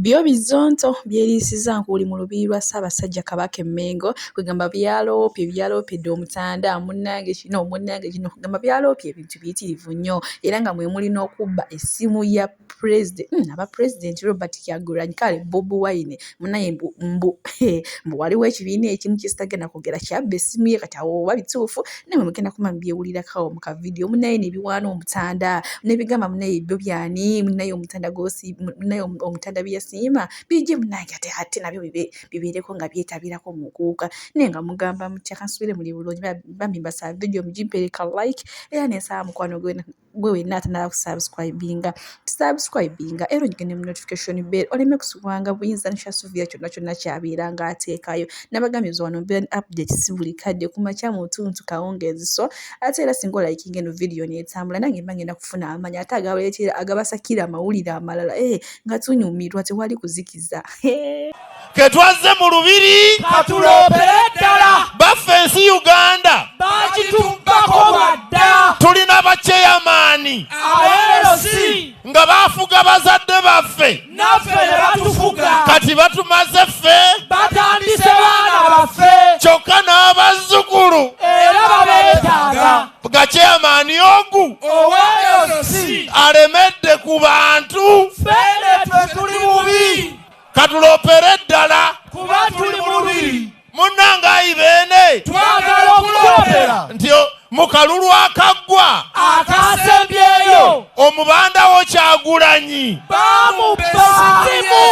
Byo bizonto byeriisiza nkuuli mu lubiri lwa Ssaabasajja Kabaka e Mmengo kwegamba byaloopye byaloopedde Omutanda munnange kino munnange kino kwegamba byaloopye ebintu biyitirivu nnyo era nga mwe muli n'okubba essimu ya pulezide hmm, aba pulezidenti Robert Kyagulanyi kale Bobi Wine munaye mbu mbu mbu waliwo ekibiina ekimu kyesitagenda kwogera kyabba essimu ye kati awo oba bituufu nawe mugenda kuma mubyewulirakawo mu kavidiyo munaye nebiwaana omutanda nebigamba munaye byo byani munaye omutanda gosi munaye omutanda byeyasiima bije munange ate ate nabyo bibeereko nga byetabirako mukuuka naye nga mugamba mutya kansubire muli bulungi bambi mbasaba vidiyo mugimpereka like era nensaba mukwano gwena gwe wenna atanaba kusubscribinga tusubscribinga era ogende mu notification bell oleme kusubwanga buyinza nkyasubira kyonna kyonna kyabeera nga ateekayo nabagambye nze wano mbeera ne update si buli kadde ku makya mu ntuntu kawungeezi so ate era singa olayikinga eno vidiyo neetambula nange mba ngenda kufuna amanya ate agabaleetera agabasakira amawulire amalala ee eh, nga tunyumirwa tewali kuzikiza ee eh. ketwazze mu lubiri katuloopere ddala baffe ensi uganda bakitubbako bwadda tulina bakyeyamaani abeerosi nga bafuga bazadde baffe naffe ne batufuga kati batumaze ffe batandise baana baffe kyokka n'abazzukulu era babeetaaga gakyeyamaani ogu oweerosi alemedde ku bantu ffe ne twe tuli bubi katulopere ddala kuba tuli mubiri munange ayi beene twagala okulopera nti mukalulu akaggwa akasembyeyo omubandawo kyagulanyi bamubasimu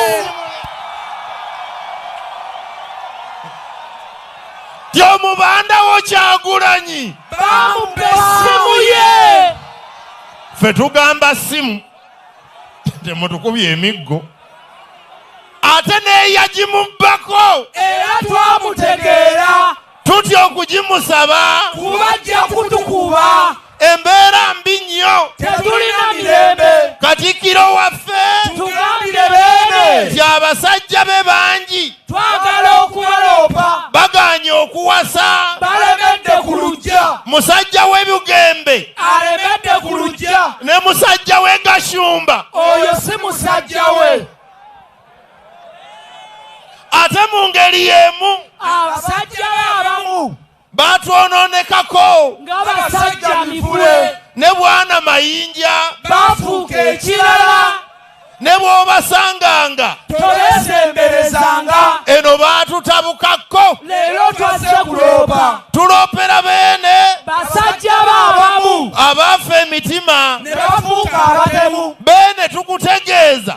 ti omubandawo kyagulanyi bamubesimu ye fe tugamba simu temutukubye emiggo ate neyagimubbako era twamutegeera tutya okugimusaba kuba ajja kutukuba embeera mbi nnyo tetulina mirembe katikkiro waffe tugambire beene nti abasajja be bangi twagala okubaloopa baganye okuwasa balemedde ku lujja musajja w'ebigembe alemedde ku lujja ne musajja we gashumba oyo si musajja we ate mu ngeri y'emu abasajja be abamu baatwonoonekako ng'abasajja mivule ne bwana mayinja baafuuka ekirala ne bw'obasanganga tobeesemberezanga eno baatutabukako leero twazze kuloopa tuloopera beene basajja baabamu abaafa emitima ne bafuuka abatemu beene tukutegeeza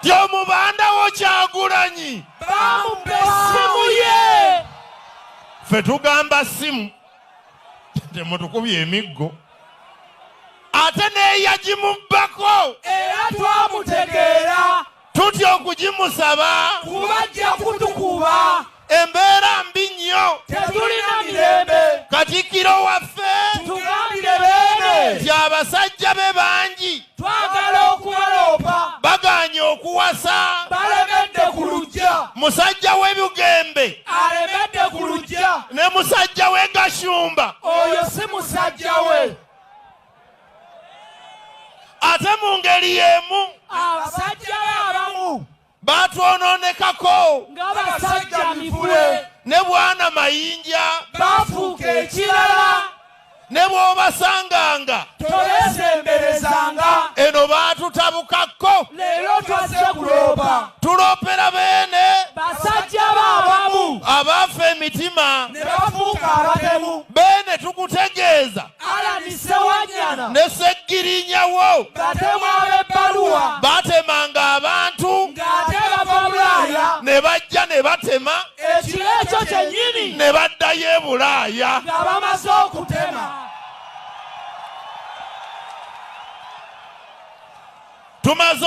nti omubandawo kyagulanyi bamubba essimu ye ffe tugamba simu temutukubye emiggo ate neyagimubbako era twamutegeera tutya okugimusaba kubajja kutukuba embeera mbi nnyo tetulina mirembe katikiro waffe tugambire beene nti abasajja be bangi twagala okubaloopa baganye okuwasa balemedde ku lujja musajja w'ebugembe alemedde ku lujja ne musajja w'e gashumba oyo si musajja we ate mu ngeri y'emu abasajja be abamu baatwonoonekako ng'abasajja mivule ne bwana mayinja baafuuka ekirala ne bw'obasanganga tolesemberezanga eno baatutabukako leero twazze kuloopa tuloopera beene basajja baabamu abaafa emitima ne bafuuka abatemu beene tukutegeeza Allan Ssewanyana ne Sseggirinya wo batemu ab'ebbaluwa baatemanga abantu ng'ate bava Bulaaya ne bajja ne batema ekiro ekyo kyennyini ne baddayo e Bulaaya. nga bamaze okutema. Tumaze